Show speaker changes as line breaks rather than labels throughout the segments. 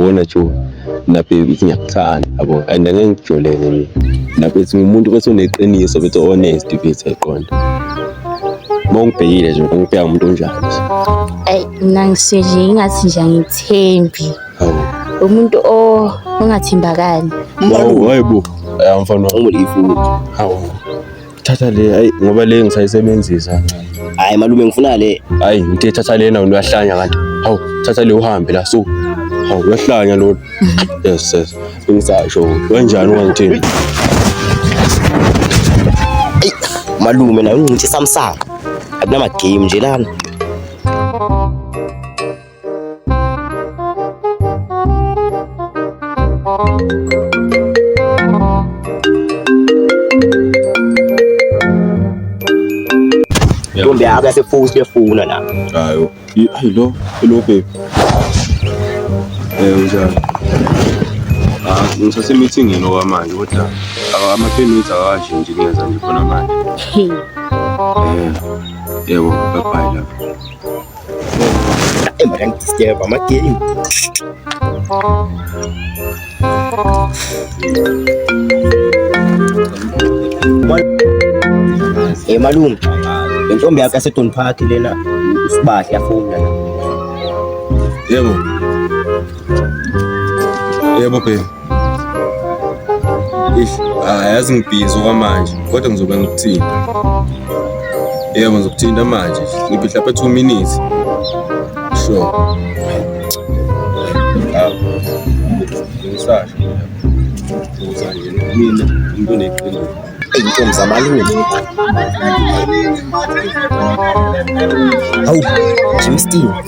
bona jo lapho ithi ngiyakuthanda yabo and angeke ngijoleke mina lapho ithi umuntu bese uneqiniso bese honest bese eqonda uma ungibhekile nje ngibheka umuntu onjani ayi mina
ngisizwe ingathi nje angithembi umuntu ongathembakali hayibo
mfana wami ifu hawu thatha le hayi ngoba le ngisayisebenzisa kancane hayi malume
ngifuna le hayi ngithe thatha lena
wena uyahlanya kanti hawu thatha le uhambe la so hawu uyahlanya lona yes yes ngisasho kanjani ungangithini
Eyi, malume naye ungincithe samsanga akunama game nje lana Ntombi yakho yasefusi kuyefuna la. Hayo. Hayi
lo, hello baby. Eh unjani? Ah, ngisase meeting yini okwamanje kodwa ama 10 minutes akashi nje ngenza nje khona manje. Hey. Eh. Yebo, bye bye lapho.
Emrangisiyeva amagame. Hey malume, intombi yakho yaseDon Park lena usibahle yafuna. Yebo.
Yebo babe. Eish, ah, yazi ngibhizi okwamanje kodwa ngizobe ngikuthinta. Yebo ngizokuthinta manje. Ngiphi mhlawumbe 2 minutes. Sure. Ah. Ngisasho. Uzanje mina umuntu oneqiniso. Intombi
zamalume. Hawu, Jimmy Steve.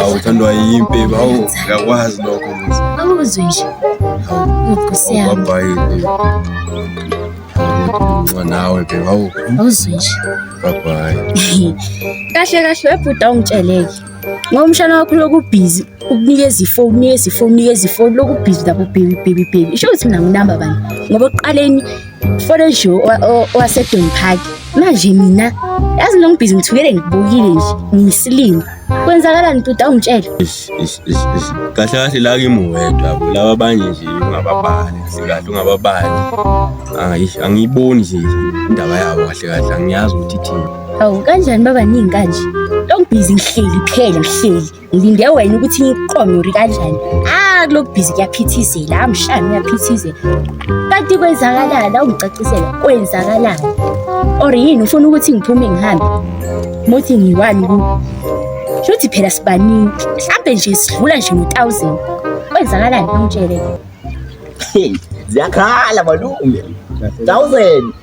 awu uthandwa yimpi
bawu uyakwazi lokho muzi awuzwe
nje nkosi yami
ubabhayile nawe ke bawu awuzwe nje
babhayi
kahle
kahle webhuda ungitsheleke ngoba umshana wakho lokubhizi ukunikeza ifoni unikeza ifoni unikeza ifoni lokubhizi lapho bhebi bhebi bhebi isho ukuthi mina nginamba bani ngoba ekuqaleni Forejo owasedon park manje mina yazi lo ngibhizi ngithukele ngibukile nje ngiyisilima kwenzakalani ntuda ungitshele
kahle kahle la kimi wedwa laba abanye nje ungababali sikahle ungababali hayi angiyiboni nje indaba yabo kahle kahle angiyazi ukuthi ithini awu kanjani
babaningi kanje lo ngibhizi ngihleli phela ngihleli ngilinde wena ukuthi iqonyori kanjani ah kulo bhizi kuyaphithizela amshana uyaphithizela kanti kwenzakalani awungicacisela kwenzakalani or yini ufuna ukuthi ngiphume ngihambe muthi ngiwani ku shuthi phela sibaningi mhlampe nje sidlula nje ngo-thousand kwenzakalani ungitshele
ziyakhala malume thousand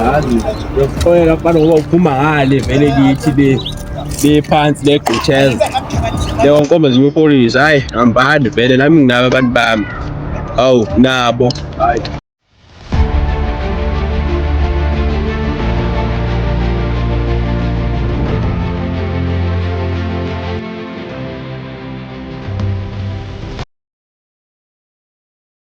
yazi yokuxolela abantu ngoba uphuma ngale vele kithi be bephansi legqutsheza leyo nkomba ziyopolisa hayi hambani vele nami nginabo abantu bami awu nabo hayi